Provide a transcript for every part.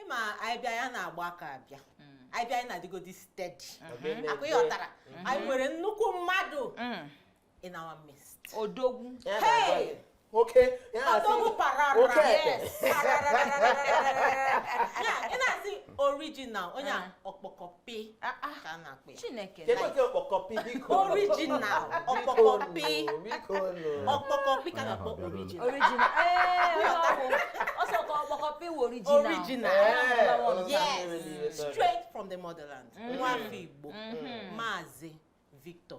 ịma anyị bịa anyị ana-agba aka abịa mm. anyị bịa anyị na-adịgodi steady mm-hmm. ọkwa ị ghọtara mm-hmm. anyị nwere nnukwu mmadụ mm. in our midst odogwu oke odogwu parara ị na-asị original onye ọkpọkọpị ka na-akpọ ọkpọkọpị Chineke kedu otu ọkpọkọpị biko original ọkpọkọpị biko nụ ọkpọkọpị ka na-akpọ original original ee ọsọ ka ọkpọkọpị wụ original Original. Ee, Ọlọ́run ọlọ́run yes ọlọ́run ọlọ́run. straight from the motherland nwa afọ Igbo Maazị Victor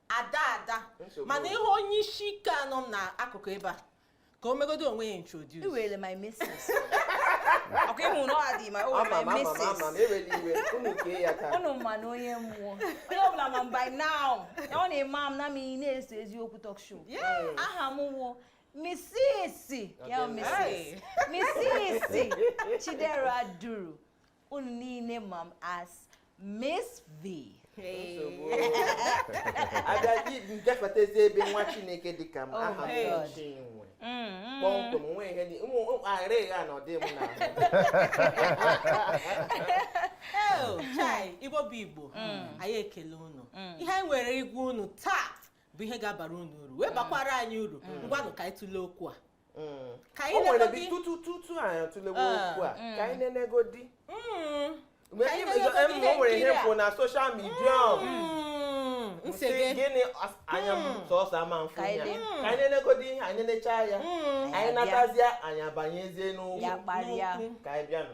ada ada mana ihe onye isi ike a nọ m n'akụkụ ebe a ka o megodu onwe ya introduce iwere my missus ọkwa ịma na ọ adị ma o were my missus unu ma na onye mmụọ onye ọbụla ma by now na ọ na-eme m na m na-eso eziokwu talk show aha m wụ misisi ya misisi misisi Chidera Duru unu niile ma m as Miss V. a bịa gafetazi ebe nwa chineke dị ka m Oh aha my m God. ọchị nwe kpọmkwem nwe ihe dị ụmụ aghara ịgha na ọdị m na Eo, chai, Igbo bụ Igbo anyị ekele unu ihe anyị nwere ịgwa unu taa bụ ihe ga-abara unu uru wee bakwara anyị uru ngwanụ ka anyị tụlee okwu a Mm. ka anyị nwere bi tutu tutu anyị atụlewe ah, okwu a mm. ka anyị nenegodi mm. o nwere ihe m fụ na social media gịnị anya m sọsọ ama m fụ ya ka anyị nenegodi ihe anyị necha ya anyị natazie anyị abanyezie n'okwu ka anyị bịanụ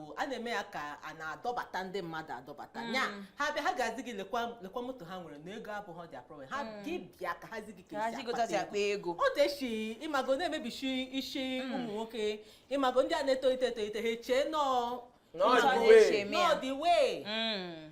bụ a na-eme ya ka a na-adọbata ndị mmadụ adọbata ya ha bịa ha ga-azi gị lekwa lekwa moto ha nwere na ego abụghịdị problem ha gị bịa ka ha zi gị ka ha esi ji gotazi akpata akpa ego ọ na-eshi ịmago na-emebisi isi ụmụ nwoke ịmago ndị a na-etolite etolite ha echee na ọ the way. eme ya. na ọ the way Mm.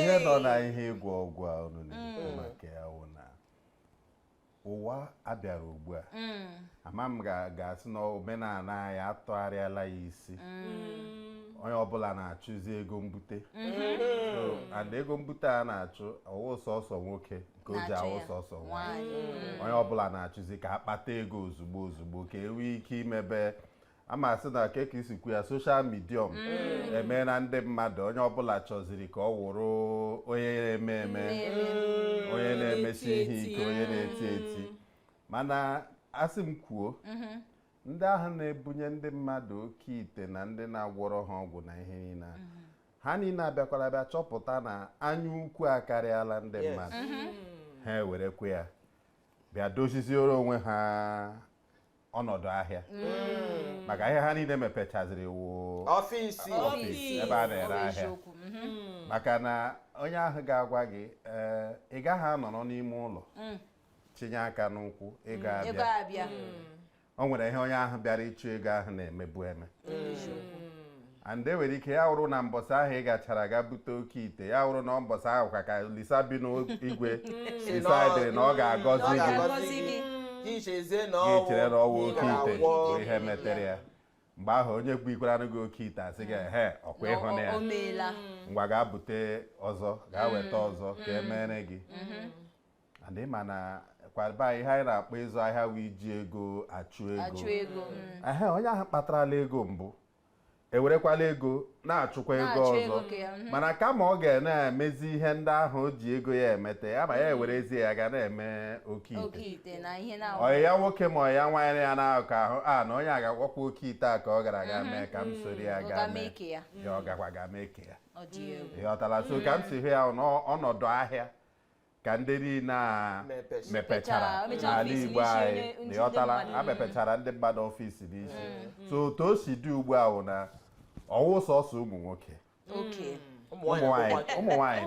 ihe nọ na ihe ịgwọ ọgwụ a unu na-ekwu mm. maka ya wụ na ụwa abịara ugbu a mm. ama m ga-asị na omenala anyị atụgharịala ya isi mm. onye ọbụla na-achụzi ego mbute mm-hmm. and ego mbute a na-achụ awụ sọsọ nwoke nke o ji awụ sọsọ nwaanyị onye ọbụla na-achụzi ka a kpata ego ozugbo ozugbo ka e nwee ike imebe a ma sị na ka e si ekwu ya social media mm. emena ndị mmadụ onye ọbụla chọziri ka ọ wụrụ onye na-eme eme mm. onye na-emesi ihe ike onye na-eti eti mm. mana a sị m kwuo mm-hmm. ndị ahụ na-ebunye ndị mmadụ oke ite na ndị na-agwọrọ ha ọgwụ na ihe niile mm-hmm. ha niile abịakwala bịa chọpụta na anya ukwu akarịala ndị mmadụ mm-hmm. ha ewerekwa ya bịa doziziere onwe ha ọnọdụ ahịa mm. maka ahịa ha niile mepechaziri wụ ọfịs ebe a na-ere ahịa mm-hmm. maka na onye ahụ ga-agwa gị eh, ị gaghị anọrọ n'ime ụlọ mm. chinye aka n'ụkwụ ego mm. abịa o nwere ihe onye ahụ bịara ịchụ ego ahụ na-emebu eme and e nwere ike ya wụrụ na mbọsị ahụ ị gachara ga bute oke ite ya wụrụ na mbọsị ahụ ka ka Olisa bi n'igwe sịrị na ọ ga-agọzi gị Ngọzi gị. gị ichezie na gị chere na ọ wụ oke ite bụ ọ wụ ihe metere ya mgbe ahụ onye bunyekwaranụ gị oke ite asị gị ehe ọ kwa ị hụna ya O meela. ngwa gaa bute ọzọ gaa weta ọzọ ka e meere gị and ị ma na kwa ihe anyị na-akpọ ịzụ ahịa wụ iji ego achụ ego Achụ ego. Ehe, onye ahụ kpatarala ego mbụ ewerekwala ego na-achụkwa ego Na-achụ ọzọ ego ka ya, mhm. mana kama ọ ga na-emezi ihe ndị ahụ o ji ego ya emete ya ma ya ewerezie ya ga na-eme oke ite oke ite na ihe na ọyị ya nwoke ma ọyị ya nwaanyị ya na-akọ ahụ a na onye a ga-agwakwa oke ite a ka ọ gara aga mee ka m soro ya ọ gaa ga mee mee ka ya ya ọ gakwa ga mee ka ya ọ dị egwu ị ghọtala so ka m si hụ ya ọ nọ- ọnọdụ ahịa ka ndị niile a mepechara n'ala Igbo anyị na ị ghọtala a mepechara ndị mmadụ ọfịs dị iche mm. so otu o si dị ugbu a wụ na ọ wụ sọsọ ụmụ nwoke ụmụ nwanyị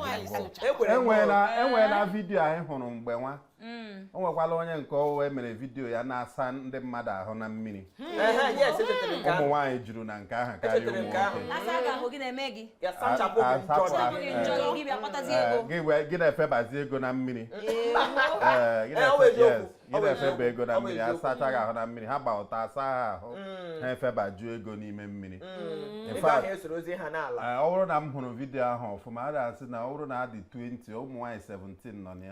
enweela vidiyo anyị hụrụ mgbe nwa mm. o nwekwala onye nke ọwụwa e mere vidiyo ya na-asa ndị mmadụ ahụ na mmiri ụmụ nwaanyị juru na nke ahụ karịa ụmụ nwoke gị na-efebazi ego na mmiri gị na-efeba ego na mmiri asachaa gị ahụ na mmiri ha gba ọtọ asa ha ahụ ha efebaju ego n'ime mmiri ọ bụrụ na m hụrụ vidiyo ahụ ọfụma a ga-asị na ọ bụrụ na a dị 20 ụmụ nwaanyị 17 nọ na ya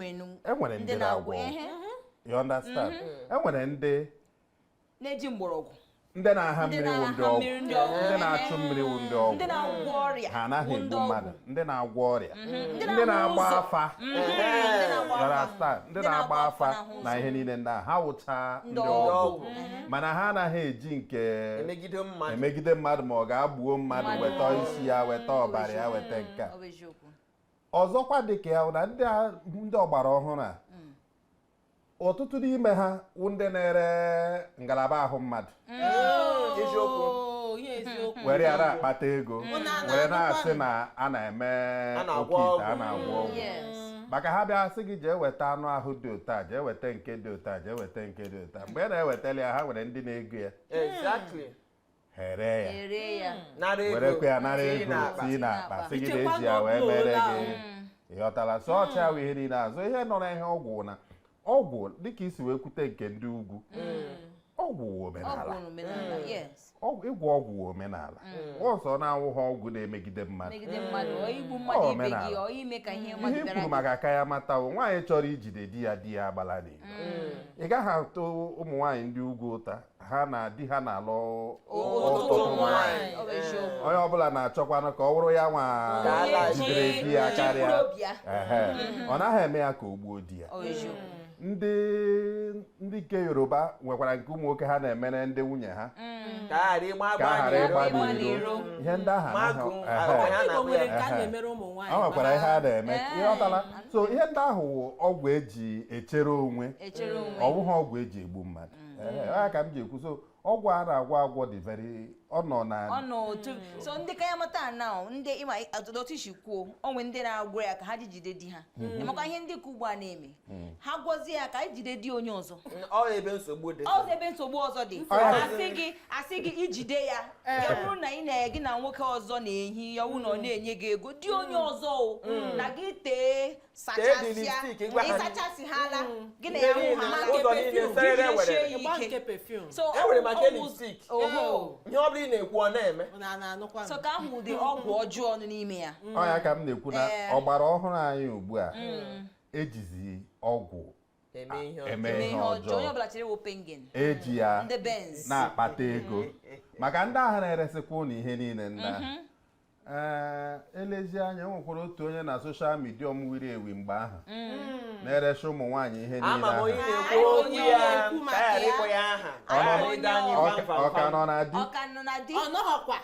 e nwere ndị na-agwọ you understand mm-hmm. e nwere ndị na-eji mgbọrọgwụ ndị na-aha mmiri wụ ndị ọgwụ ndị na-achụ mmiri wụ ndị ọgwụ ha anaghị egbu mmadụ ndị na-agwọ ọrịa mm-hmm. ndị na-agba afa mm-hmm. ndị na-agba afa na ihe niile ndị ha wụcha ndị ọgwụ mm-hmm. mana ha anaghị eji nke emegide mmadụ ma ọ gaa gbuo mmadụ weta isi ya weta ọbara ya weta nke a ọzọkwa dị ka ya na ndị ndị ọgbara ọhụrụ a hmm. ọtụtụ n'ime ha wụ ndị na-ere ngalaba ahụ mmadụ hmm. oh, were ya na-akpata ego hmm. were na-asị na a na-eme oke ite a na-agwọ ọgwụ maka ha bịa sị gị jee weta anụ ahụ dị otu a jee weta nke dị otu a jee weta nke dị otu a mgbe ị na-ewetali ya ha nwere ndị na-ego ya ha ere ya ere ya nara ego werekwa ya nara tinye ego n'akpa. tii na akpa sị gị na Ichekwa eji ya wee n'okpuru mere ụlọ gị ahụ. ị ghọtara so ọ cha wụ ihe niile azụ ihe nọ na ihe ọgwụ na ọgwụ dịka i si wee kwute nke ndị ugwu ọgwụ wụ omenala ọgwụ omenala yes Ọgwụ- ịgwọ ọgwụ wụ omenala ọ sọ na ọ wụha ọgwụ na-emegide mmadụ megide mmadụ ọ igbu mmadụ Ọ, ibe omenala. gị ọ ime ka ihe ihe mmadụ i bịara kwuru maka kayan mata wụ nwaanyị chọrọ ijide di ya di ya agbala n'ilo ị gaghị atụ ụmụ nwaanyị ndị ugwu ụta ha na di ha na-alụ ọtụtụ nwaanyị ọ bụ eziokwu onye ọbụla na-achọkwanụ ka ọ wụrụ ya nwa Ka a na-achị- jidere di ya ji karịa mkpụrụ obi ya. Ehe. ọ naghị eme ya ka o gbuo di ya ọ bụ eziokwu ndị ndị nke yoruba nwekwara nke ụmụ nwoke ha na-emere ndị nwunye ha ka ha ghara ịgba ka ha ghara agba ịgba ịgba n'iro n'iro. ihe ndị ahụ magun anaghị- agwa ehe. ya na Igbo agwa nwere ya nke a Ehe. na-emere ụmụ ọ nwaanyị nwekwara ihe a na-eme Ee. ị ghọtala so ihe ndị ahụ wụ ọgwụ eji echere onwe echere onwe ọ bụghị ọgwụ eji egbu mmadụ mm. eh, ya ka m ji ekwu so ọgwụ a na-agwọ agwọ dị very ọ nọ na ọ nọ otu mm. so ndị kayan mata na ndị ị ma otu i si kwuo o nwe ndị na-agwọ ya ka ha ji jide di ha mm-hmm. emekwa ihe ndị ka ugbu a na-eme mm. ha gwozie ya ka i jide di onye ọzọ mm, ọ ebe nsogbu dị ọ ebe nsogbu ọzọ dị a sị gị a sị gị ijide ya eh. ya bụrụ na ị na gị na nwoke ọzọ na-ehi ya wụ na ọ na-enye gị ego di onye ọzọ o na gị tee ịsachasịhala gị na ya hụ ha ụzọ niile serere were enwere maka elistik ihe ọ bụla ị na-ekwu ọ na-eme so ka ahụ ụdị ọgwụ ọjọọ nọ n'ime ya ọ ya ka m na-ekwu na ọgbara ọhụrụ anyị ugbu a ejizi ọgwụ eme ihe ọjọọ. eme Eme ihe ihe ọjọọ. ọjọọ onye ọbụla chere wo pengen eji ya ndị benz na-akpata ego maka ndị ahụ na-eresịkwa ụnụ ihe niile ndị ahụ ee e lezie anya e nwekwara otu onye na social media m wiri ewi mgbe ahụ na-eresị ụmụ nwaanyị ihe niile ama m ahụ onye na-ekwu okwu Onye ya na-ekwu maka ka anyị ghara ịkpọ ya aha Ọ nọ- Onye anyị Ọ ka- ọ ka nọ na di ọ ka nọ na di ọ nọghọkwa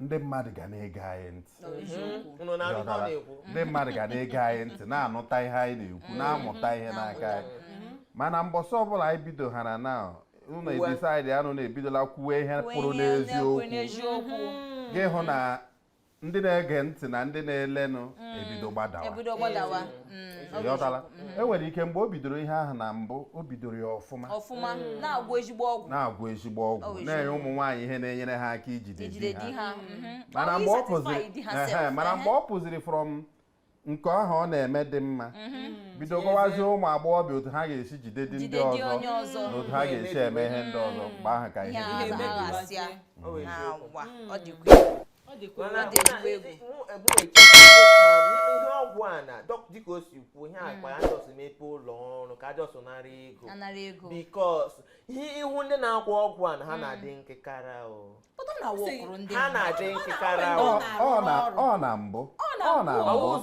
ndị mmadụ ga na-ege anyị ntị Unu na-anụ ihe ọ na-ekwu. ndị mmadụ ga na-ege anyị ntị na-anụta ihe anyị na-ekwu na-amụta ihe n'aka anyị mana mbọsị ọbụla anyị bidoghara na ụlọ Uwe. e-decide anụ na-ebidola kwuwe ihe pụrụ n'eziokwu n'eziokwu gị hụ na ndị na-ege ntị na ndị na-elenụ ebido gbadawa ebido gbadawa Mm. Ị ghọtala mm-hmm. e nwere ike mgbe o bidoro ihe ahụ na mbụ o bidoro ya ọfụma ọfụma mm. na-agwọ ezigbo ọgwụ na-agwọ ezigbo ọgwụ oh, na-enye ụmụ nwaanyị ihe na-enyere ha aka ijide di ha mm-hmm. mana mgbe ọ pụziri mana mgbe ọ pụziri from nke ahụ ọ na-eme dị mma mm-hmm. bido gwawazie ụmụ agbọghọbịa otu ha ga-esi jide di ndị ọzọ na otu ha ga-esi eme ihe ndị ọzọ mgbe ahụ ka ihe ọgwụ a na dịka o si kwuo ihe akpa ya just mepe ụlọ ọrụ ka ha just nara ego because ihe ị hụ ndị na-agwọ ọgwụ a na ha na-adị nkịkara ha na-adị nkịkara ọ na mbụ ọ na mbụ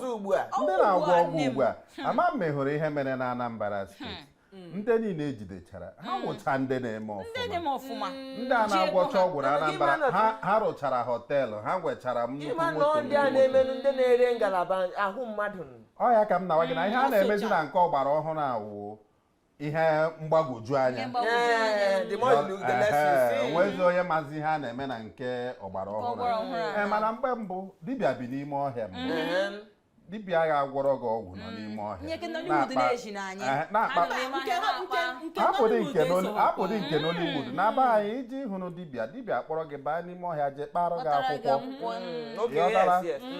ndị na-agwọ ọgwụ ugbu a ama m ma ị hụrụ ihe mere na Anambra steeti Mm. ndị niile ejidechara ha mm. wụcha ndị na-eme ọfụma mm. ndị a na-agwọcha ọgwụ na Anambra ha rụchara hotel ha nwechara nnukwu moto ndị a na-emenụ ndị na-ere ngalaba ahụ mmadụ ọ ya ka m na-agwa gị na ihe a na-emezi na nke ọgbara ọhụrụ a wụ ihe mgbagwoju anya o nwezi onye mazi ihe a na-eme na nke ọgbara ọhụrụ eh, mana mgbe mbụ dibịa bi n'ime ọhịa mbụ dibịa ga-agwọrọ gị ọgwụ nọ n'ime ọhịa abụdị nke Nollywood na be anyị iji hụrụ dibịa dibịa akpọrọ gị baa n'ime ọhịa jee kpara gị akwụkwọ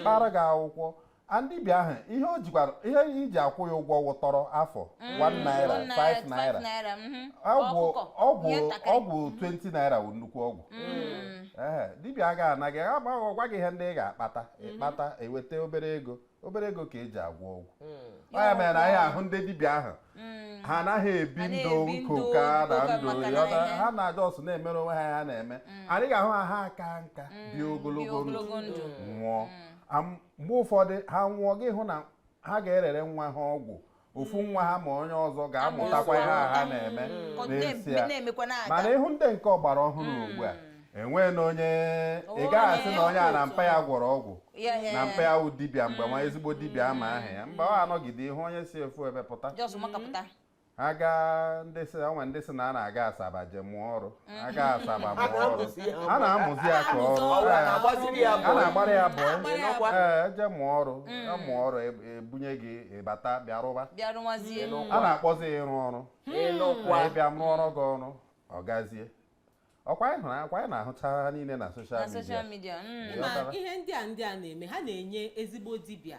kpara gị akwụkwọ and dibịa ahụ ihe o jikwara ihe e ji akwụ ya ụgwọ wụ tọrọ afụ 1 mm. naira 5 naira mm-hmm. ọgwụ ọgwụ ọgwụ 20 naira wụ nnukwu ọgwụ mm. dibịa agaghị anaghị agbaghị ọ gwa gị ihe ndị ị ga-akpata ị kpata mhm. i weta obere ego obere ego ka e ji agwọ ọgwụ hmm. ọ ya mere na ị hụ ndị dibịa ahụ hmm. ha anaghị ebi ndụ nko ka na ndụ ha na just na-emere onwe ha ya na-eme hmm. and ị ga-ahụ ha ha aka nka bie ogologo ndụ nwụọ mgbe ụfọdụ ha nwụọ gị hụ na ha ga-erere nwa ha ọgwụ ofu nwa ha ma onye ọzọ ga-amụtakwa ihe a ha na-eme Ọ na-em- n'ezie na-emekwa na-aga mana ị hụ ndị nke ọgbara ọhụrụ ugbu a enwee na onye ị ga-asị na onye a na mpa ya gwọrọ ọgwụ Ya, ya, na ya. mpa ya wụ dibịa mgbe nwa ezigbo dibịa a ma aha ya mba ọ a nọgide ị hụ onye si ofu ebe pụta just makapụta ha gaa ndị si o nwe ndị sị na a na-aga Asaba je mụọ ọrụ aga Asaba A bụ ọrụ na-amụzi ya a na-amụzi ya ka ọrụ Ọ Ee, na-agbaziri ya a bọị. na-agbara ya bọị Agbara ya bọị. ee e je mụọ ọrụ ya mụọ ọrụ eb- e bunye gị ị bata bịa rụba bịa rụwazie a na-akpọzi ya ịrụ ọrụ ị nụkwa Ee, bịa m rụọrọ gị ọrụ ọ gazie ọ kwa anyị hụrụ ọ kwa anyị na-ahụcha ha niile na social na media social media mm. Ee. ma Ghọtara. ihe ndị a ndị a na-eme ha na-enye ezigbo dibịa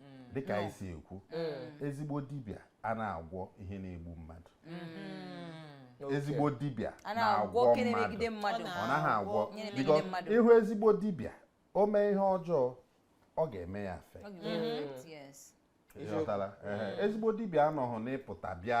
mm. dịka anyị si ekwu mm. ezigbo dibịa a na-agwọ ihe na-egbu mmadụ mm. ezigbo dibịa na-agwọ mmadụ ọ naghị agwọ ị hụ ezigbo dibịa o mee ihe ọjọọ ọ ga-eme ya affect ezigbo dibịa anọghị n'ịpụta bịa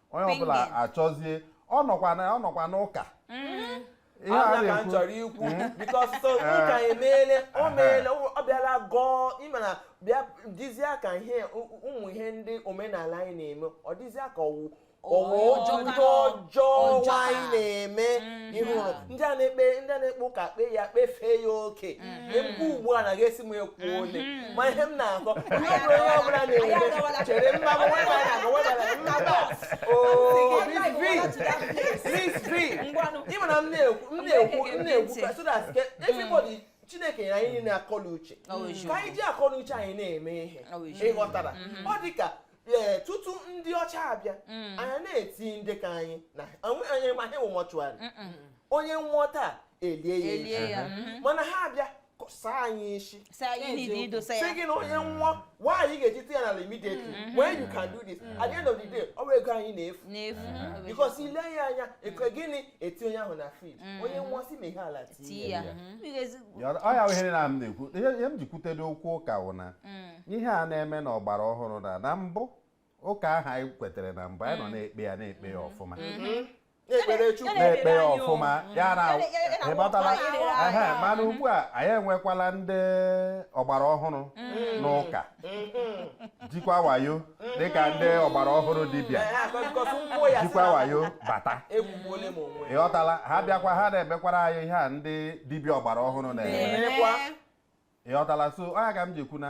onye ọbụla Pingin. achọzie ọ nọkwa na ọ nọkwa n'ụka ihe a ọ ya ka m na-ekwu chọrọ ikwu because so ụka emeele o meele ọ bịala gọọ ị ma na bịa dịzịa ka ihe ụ- ụmụ ihe ndị omenala anyị na-eme ọ dịzịa ka ọ wụ ọ wụ Ọjọọ ọjọọ ka- ndị ọjọọ ọjọọ ka. anyị na-eme ị hụ ndị a na-ekpe ndị a na-ekpe ụka kpee ya kpefee ya oke ekwu ugbu a na ga-esi m ekwu ole mm-hmm. ma ihe m na-akọ onye ọbụla onye ọbụla na-enwe chere mma m nwe mara agụ nwe mara nna bọs oh, Miss V ị mara m na-ekwu m na-ekwu m na-ekwu so that mm. everybody Chineke nyere anyị akọ na uche ka anyị ji akọ na uche anyị na-eme ihe ịghọtara mm-hmm. ọ dị ka ee tutu ndị ọcha abịa mm. anyị na-eti ndị ka anyị na anyị ma ha mọchụarị onye nwụọ taa elie ya elie ya mm-hmm. mana ha abịa saa anyị isi sị gị na onye nwụọ why anyị ga-eji tinye n'ala immediately mm-hmm. when you can do this mm-hmm. at the end of the day ọ bụ ego anyị na-efu because i lee ya anya eke gịnị eti onye ahụ na fridge onye nwụọ si na ihe ala tinye ya ọya ihe na m na-ekwu ihe m ji kwutere okwu ụka wụ na mm. ihe a na-eme na ọgbara ọhụrụ na na mbụ ụka ahụ anyị kwetere na mbụ anyị nọ mm. na-ekpe ya na-ekpe ya mm. ọfụma mm-hmm. na-ekpe ya ọfụma ya na ịghọtala mana ugbu a anyị enwekwala ndị ọgbara ọhụrụ n'ụka mm-hmm. jikwa wayo dịka ndị ọgbara ọhụrụ dibịa jikwa wayo bata ịghọtala ha bịakwa ha na-emekwara anyị ihe a ndị dibịa ọgbara ọhụrụ na-eme ịghọtala so ọ ya ka m ji ekwu na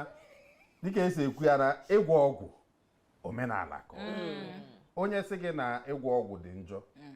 dịka e si ekwu ya na ịgwọ ọgwụ omenala ka mm. onye sị gị na ịgwọ ọgwụ dị njọ mm.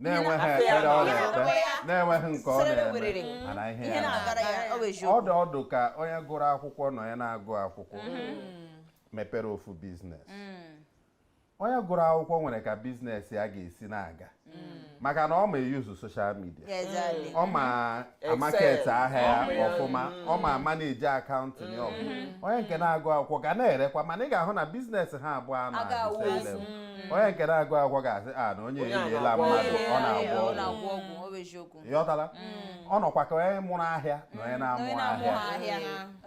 na-enweghị Afọ ya ekpere ọ na-eme. na-ekpe na-enweghị nke ọ Sere na-eme werere. mana ihe ihe ya na-aga. na-agara ya ọ bụ eziokwu ọ dụ ọ dụ ka onye gụrụ akwụkwọ na onye na-agụghị akwụkwọ mepere ofu business onye gụrụ akwụkwọ nwere ka business ya ga-esi na-aga maka na ọ ma e-use social media Exactly. ọ ma a-market ahịa ya mm. ọfụma ọ ma manage account ya ọfụma mm. onye nke na-agụghị akwụkwọ ga na-erekwa mana ị ga-ahụ na business ha abụọ a na-agụ mm. onye nke na-agụghị akwụkwọ ga-asị a ah, na onye eriela mmadụ ọ na-agwọ ọgwụ ịghọtala ọ nọkwa ka onye mụrụ ahịa na onye na-amụghị ahịa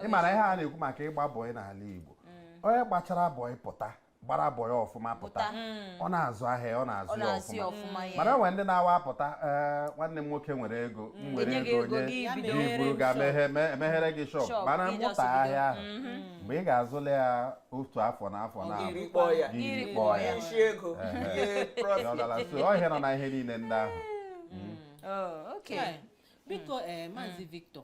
ị mara ihe a na-ekwu maka ịgba bọị n'ala Igbo onye gbachara bọị pụta gbara bọị ya ọfụma pụta Pụta. Mm. ọ na-azụ ahịa ọ na-azụ Ọ ya na-azụ ya ọfụma ọfụma ya. mana e nwere ndị na-awa apụta ee nwanne m nwoke nwere ego m nwere Enye gị ego ego enye gị Ya bido. gị buru ga Shop. meghe- me- emeghere gị shop Shop, mana gị mụta just ahịa ahụ mgbe ị ga-azụla ya otu afọ na afọ na I rikpọọ ya. gị Iri rikpọọ kpọọ ya ya. Isi ego. Ehe. Ihe profit. Dọlala. so ọ ihe nọ na ihe niile ndị ahụ Oh, okay. Ee, biko ee Maazị Victor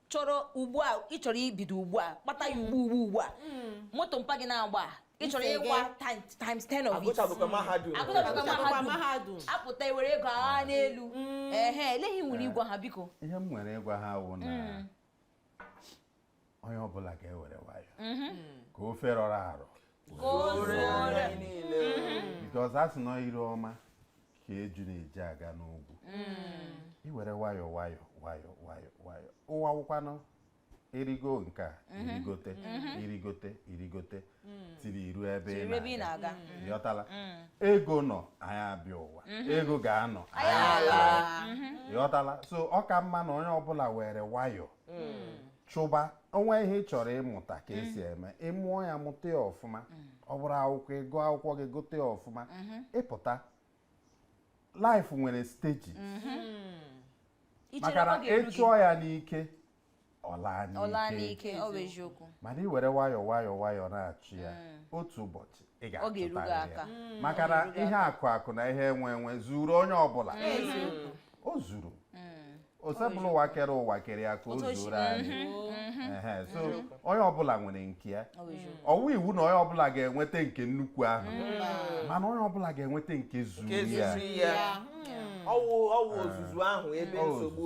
chọrọ ugbu a ị chọrọ ibido ugbu a kpata ya ugbu ugbu ugbu a hmm. moto mpa gị na-agba ị chọrọ ịgba times 10 of it agụtabeghịkwa hmm. mahadum apụta i were ego agha hmm. n'elu ehe olee ihe i nwere ịgwa ha biko ihe m nwere ịgwa ha wụ na onye ọbụla ga-ewere nwayọ mhm. ka ofe rọrọ arọ because a sị na ire ọma ka eju na-eji aga n'ugwu mm. i were nwayọọ nwayọọ nwayọọ nwayọọ nwayọọ ụwa wụkwanụ erigo nke a mm-hmm. irigote mm-hmm. irigote irigote mm. tiri iru ebe ị na-aga mm. ị ghọtala mm. ego nọ anyị abịa ụwa mm-hmm. ego ga-anọ anyị ala ị ghọtala so ọ ka mma na onye ọbụla were nwayọọ chụba ọ nwee ihe ị chọrọ ịmụta ka e si eme ị mụọ ya mụta ya ọfụma ọ bụrụ akwụkwọ ị gụọ akwụkwọ gị gụta ya ọfụma ị pụta life nwere stages maka na ị chụọ ya n'ike ọ laa n'ike mana i were nwayọọ nwayọọ nwayọọ na-achụ ya otu ụbọchị ị ga-achụtarị ya maka na ihe akụ akụ na ihe enwe enwe zuru onye ọbụla o zuru hmm. Osebụlụwa kere ụwa kere ya ka o zuoro anyị mhm. so mhm. onye ọbụla nwere nke ya ọ wụghị iwu na onye ọbụla ga-enweta nke nnukwu ahụ hmm. mana onye ọbụla ga-enweta nke zuru ya ọ wụ ọ wụ ozuzu ahụ ebe nsogbu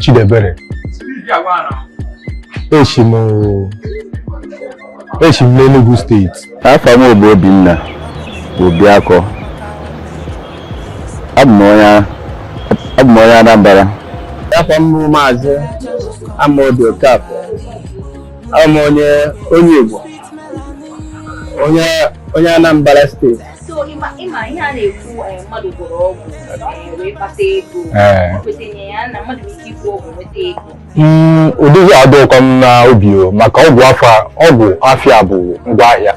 Chidiebere esi m esi m n'Enugu steeti afa m bụ Obinna Obiakọ abụ m onye abụ m onye Anambra afa m bụ maazị Amaobi Okafọ abụ m onye onye Igbo onye onye Anambra steeti so ị ma ị ma ihe a na-ekwu eh, mmadụ gwọrọ ọgwụ eh, wee kpata ego eh. kwetenye ya na mmadụ ike ịgwọ ọgwụ nweta ego hmm, ụdị ihe a adịghịkwa m na obi o maka ọgwụ afịa ọgwụ afịa bụ ngwa ahịa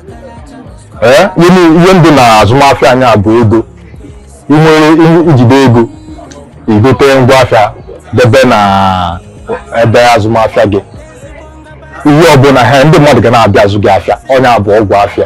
nye ndị na azụmahịa nya bụ ego i nwere i jide ego i gote ngwa afịa debe na ebe azụmahịa gị ihe ọbụla ha ndị mmadụ ga na-abịa azụ gị afịa ọ nya bụ ọgwụ afịa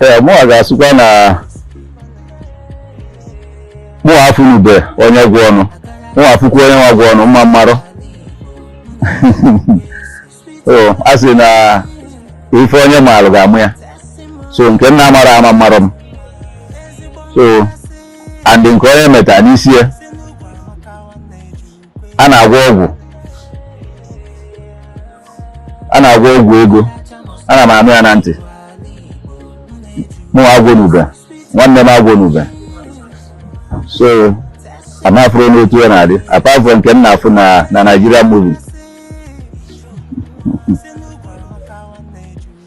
ee mụnwa ga-asịkwa na mụnwa afụnube onye gwọnụ mụnwa afụkwa onye nwa gwọnụ m amarọ o a sị na ife onye maalụ ga-ama ya so nke m na-amarọ amarọ m so and nke onye meta n'isi ya a na-agwọ ọgwụ a na-agwọ ọgwụ ego ana m anụ ya na ntị mụnwa agwọnube nwanne m agwọnube so afụrọ m otu ya na-adị apart from nke m na-afụ na na Nigerian movie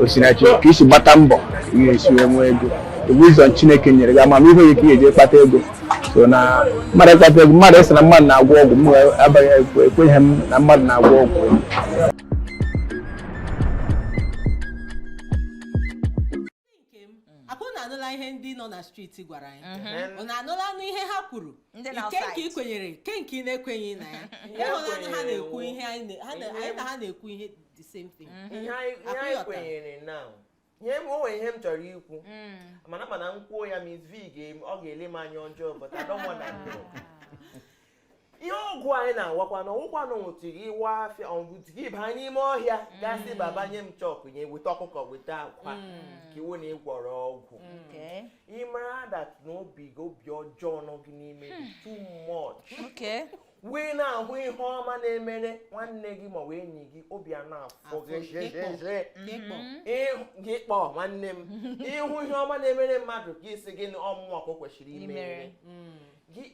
o si na chi ka i si gbata mbọ ihe e si wee nwee ego wisdom chineke nyere gị amamihe ọ nya ka ị ga-eji kpata ego so na mmadụ ịkpata ego mmadụ ịsị na mmadụ na-agwọ ọgwụ m amaghị ekweghị m na mmadụ na-agwọ ọgwụ okay unu anụla ihe ndị nọ na street gwara anyị mhm. unu anụlanụ ihe ha kwuru kee nke ị kwenyere kee nke ị na-ekwenyeghị na ya ịhụlanụ ha na-ekwu ihe anyị na ha na-ekwu ihe the same thing mhm. ihe anyị kwenyere na ihe m o nwere ihe m chọrọ ikwu mm. mana mana m kwuo ya Mazi ọ ga-ele m anya ọjọọ but I don't want that ihe ọgwụ anyị na-agwakwa na ọ wụghịkwanụ until gị wa ọfịa until gị baa n'ime ọhịa gaa sị mm. baba nye m chọkụ nye weta ọkụkọ weta akwa mm. ka ọ wụ na ị gwọrọ ọgwụ mm. ị mara that na obi gị obi ọjọọ nọ gị n'ime gị too much wee na-ahụ ihe ọma na-emere nwanne gị maọbụ enyi gị obi a na-afụ gị ụfụ nwanne m ị hụ ihe ọma na-emere mmadụ gị sị gị na ọ mụ mụ ka o kwesịrị imere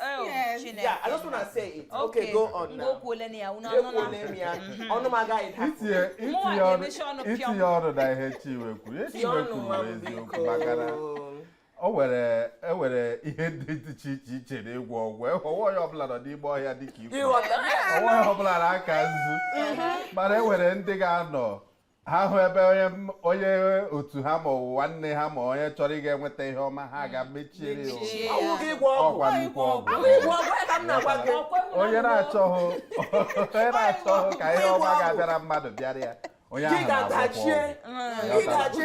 Oh, yes. Yeah, I just want to say it. Okay, okay go on now. Go na ya. Una know na. Ọnụ m agaghị daa. Itinye itinye ọnụ na ihe Chinwe kwuru. Ihe Chinwe kwuru bụ eziokwu maka na o nwere e nwere ihe ndị dị iche iche iche na ịgwọ ọgwụ e, ọ wụghị onye ọbụla nọ n'ime ọhịa dịka i kwuru ọ wụghị onye ọbụla na-aka nzu mhm. mana e nwere ndị ga-anọ ha hụ ebe onye otu ha ma ọ wụ nwanne ha ma onye chọrọ ịga enweta ihe ọma ha gaa mechiere ya ọ wụ nnukwu ọgwụ onye na-achọghị onye na-achọghị ka ihe ọma ga-abịara mmadụ bịara ya onye ahụ na-agwọkwa ọgwụ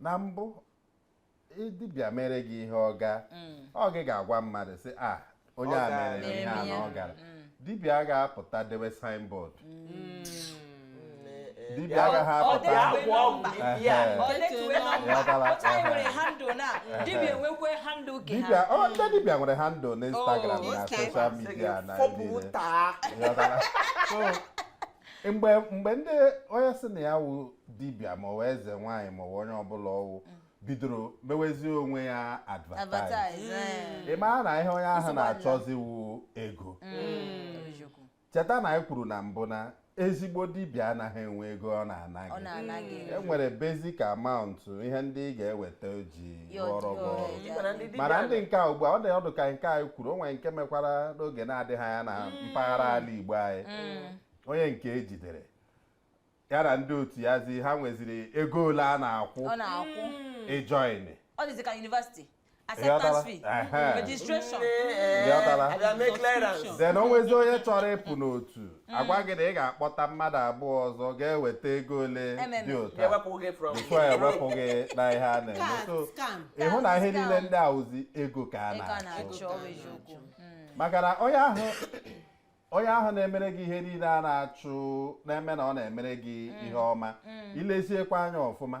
na mbụ dibịa mere gị ihe ọ gaa mm. ọ gị ga-agwa mmadụ sị a ah, onye a mere ihe a na ọ gara mm. dibịa agaghị apụta dewe signboard mm. dibịa agaghị apụta dibịa ọ ndị dibịa nwere handle na oh, Instagram na social media na mgbe mgbe ndị onye sị na ya wụ dibịa ma ọ wụ eze nwaanyị ma ọ wụ onye ọbụla ọ wụ bidoro mewezie onwe ya advertise Advertise, eh. ị mara na ihe onye ahụ Nsogbu adịla. na-achọzi wụ ego Eziokwu. cheta na anyị kwuru na mbụ na ezigbo dibịa anaghị enwe ego ọ na-ana Ọ gị na-ana gị. e nwere basic amount ihe ndị ị ga-eweta o ji mana ndị nke a ugbu a ọ dị ọ dụ ka nke anyị kwuru o nwere nke mekwara n'oge na-adịghị anya na mm. mpaghara ala Igbo anyị mm. onye nke ejidere ya na ndị otu ya zi ha nweziri ego ole a na-akwụ ịjoin ọ dịzi ka yunivasiti acceptance fee registration then o nwezi onye chọrọ ịpụ n'otu Mm. a gwa gị na ị ga-akpọta mmadụ abụọ ọzọ ga-eweta ego ole dị otu a before ewepụ gị na ihe a na-eme so ị hụ na ihe niile ndị a wụzi ego ka a na-achọ mm. maka na onye ahụ onye ahụ na-emere gị ihe niile a na-achụ na-eme na ọ na-emere gị mm. ihe ọma i leziekwa anya ọfụma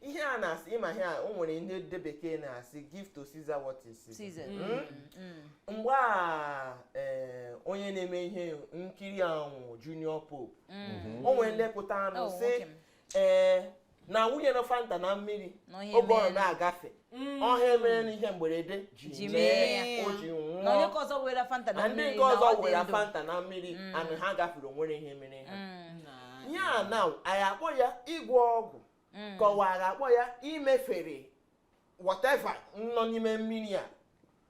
ihe a na-asị ị ma ihe a o nwere ihe ndị bekee na-asị give to Caesar what is Caesar's. Mm. Mm. mgbe a ee, onye na-eme ihe nkiri anwụ Junior Pope Mm. o nwere ndị pụtara Oh, nụ sị nwoke m. ee na wụnyere Fanta na mmiri Nọ ihe oge ọ mee. na-agafe ọ ya mere n'ihe mgberede ji Ji mee mee ya. ya. o ji na onye nwụọ ka ọzọ were Fanta na na ndị mmiri nke na ọzọ ọ dị were ndụ. Fanta na mmiri anụ ha gafere o nwere ihe mere ha Mm, Na- ya na anyị akpọ ya ịgwọ ọgwụ mm. ka ọ wụrụ a kpọ ya imefere whatever nọ n'ime mmiri a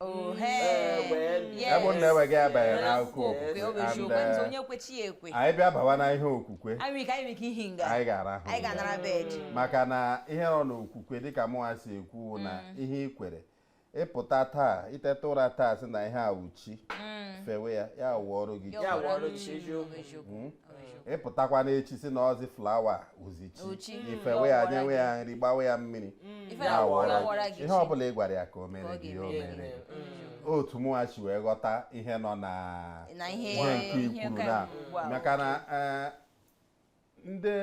Oh, eh, ebe m na-eweghị abanye n'akụkọ okwukwe eh, anyị bịa bawa na ihe okwukwe anyị ga-arahụ mm. maka na ihe nọ n'okwukwe dịka mụnwa si ekwu na mm. ihe i kwere ị pụta taa i teta ụra taa sị na ihe a wụ chi mm. fewe ya ya wụọrọ gị hmm? ị pụtakwa n'echi sị na ọ wụzi flower wụzi chi i fewe ya nyewe ya nri gbawe ya mmiri mm. ihe ọ bụla ị gwara ya ka o mere gị o mere mm. otu mụnwa si wee ghọta ihe nọ na ihe nke i kwuru na maka na eh, ndị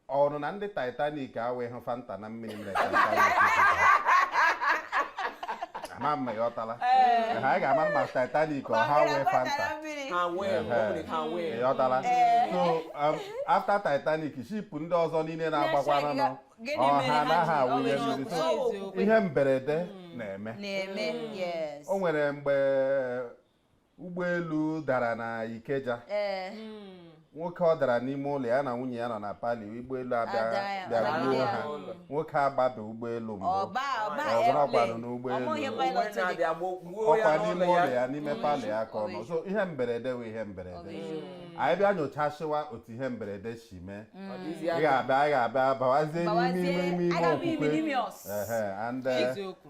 ọ wụrụ na ndị Titanic awụghị Fanta na mmiri mere ama mma ya ọtala ha ga-ama mma Titanic ọ ha wee Fanta ya ọtala so um, after Titanic ship ndị ọzọ niile na-agbakwanụ ọ ha anaghị awụnye mmiri so ihe mberede mm. na-eme o nwere mgbe ụgbọelu dara na Ikeja ee Mm. nwoke ọ dara n'ime ụlọ ya na nwunye ya nọ na parlour ụgbọelu abịa Ada ya, bịara ada gbuo ya. ha nwoke agbabe ụgbọelu mbụ ọba ọba Ọ bụrụ airplane. ọ kwanụ n'ụgbọelu. Ọ bụghị Onwe pilot dị. na-abịa gbuo- gbuo ya ọ kwa n'ime n'ụlọ ụlọ ya. ya n'ime parlour ya ka ọ nọ so ihe mberede wụ ihe mberede anyị bịa nyochasịwa otu ihe mberede si mee Ọ dịzi ị anya. ga-abịa ị ga-abịa bawazie n'ime Bawazie, ime ime aga m ime okwukwe n'ime ọs. Ehe, and, eh, eziokwu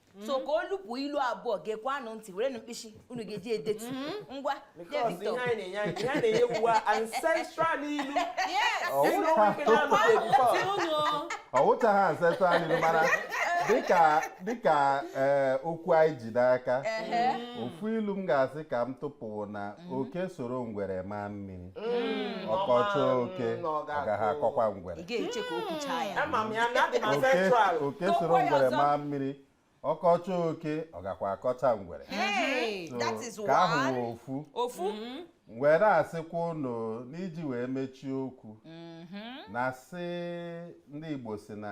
Mm-hmm. so ka o lupụ ilu abụọ geekwanụ ntị werenụ mkpịsị unu ga-eji edetu mm-hmm. ngwa ọ wụcha ha ancestral ilu mara dịka dịka eh, okwu anyị ji n'aka ofu ilu m ga-asị ka m tụpụ na mm-hmm. oke soro ngwere maa mmiri mm, ọ kọchaa oke mm, ọ gaghị akọkwa ngwere oke soro ngwere maa mmiri ọ kọchaa oke ọ gakwa akọcha ngwere ka ahụ ofu ofu mm-hmm. were asịkwa unu n'iji wee mechie okwu mm-hmm. na sị ndị Igbo sị na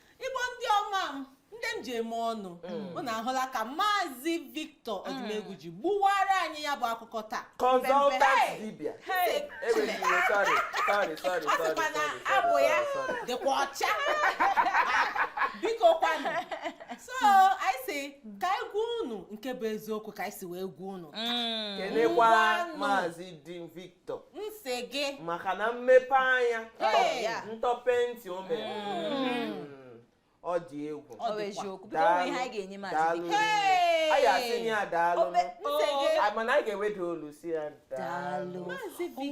igbo ndị ọma m ndị m ji eme ọnụ mm. unu ahụla ka maazị Victor mm. Odumegwu ji gbuwara anyị ya bụ akụkọ taa consultant dibịa ọ sịkwa na abụ ya dịkwa ọcha biko kwanụ so anyị sị ka anyị gwa unu nke bụ eziokwu ka anyị si wee gwa unu mm. kenekwa maazị Victor m sị gị maka na mmepe anya ntọpe ntị o mere mm. ọ dị egwu daalụ anyị asị nye ya daalụ mana anyị ga-eweda olu sị ya daalụ ị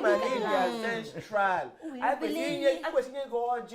ma na ị bịa central anyị kwesịrị inye gị ọjị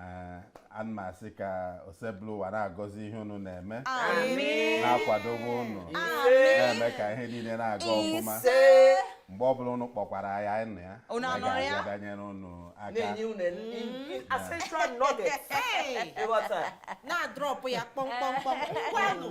Eh, a na m asị ka Osebụlụwa na-agọzi ihe unu na-eme na-akwadobe unu na-eme ka ihe niile na-aga ọfụma mgbe ọ bụla unu kpọkwara ya anyị na ya Unu anụrụ ya? ga-abịa danyere unu aka na-enye unu essential nuggets Hey! ị ghọta na-adrop ya kpọmkpọmkpọm ngwanụ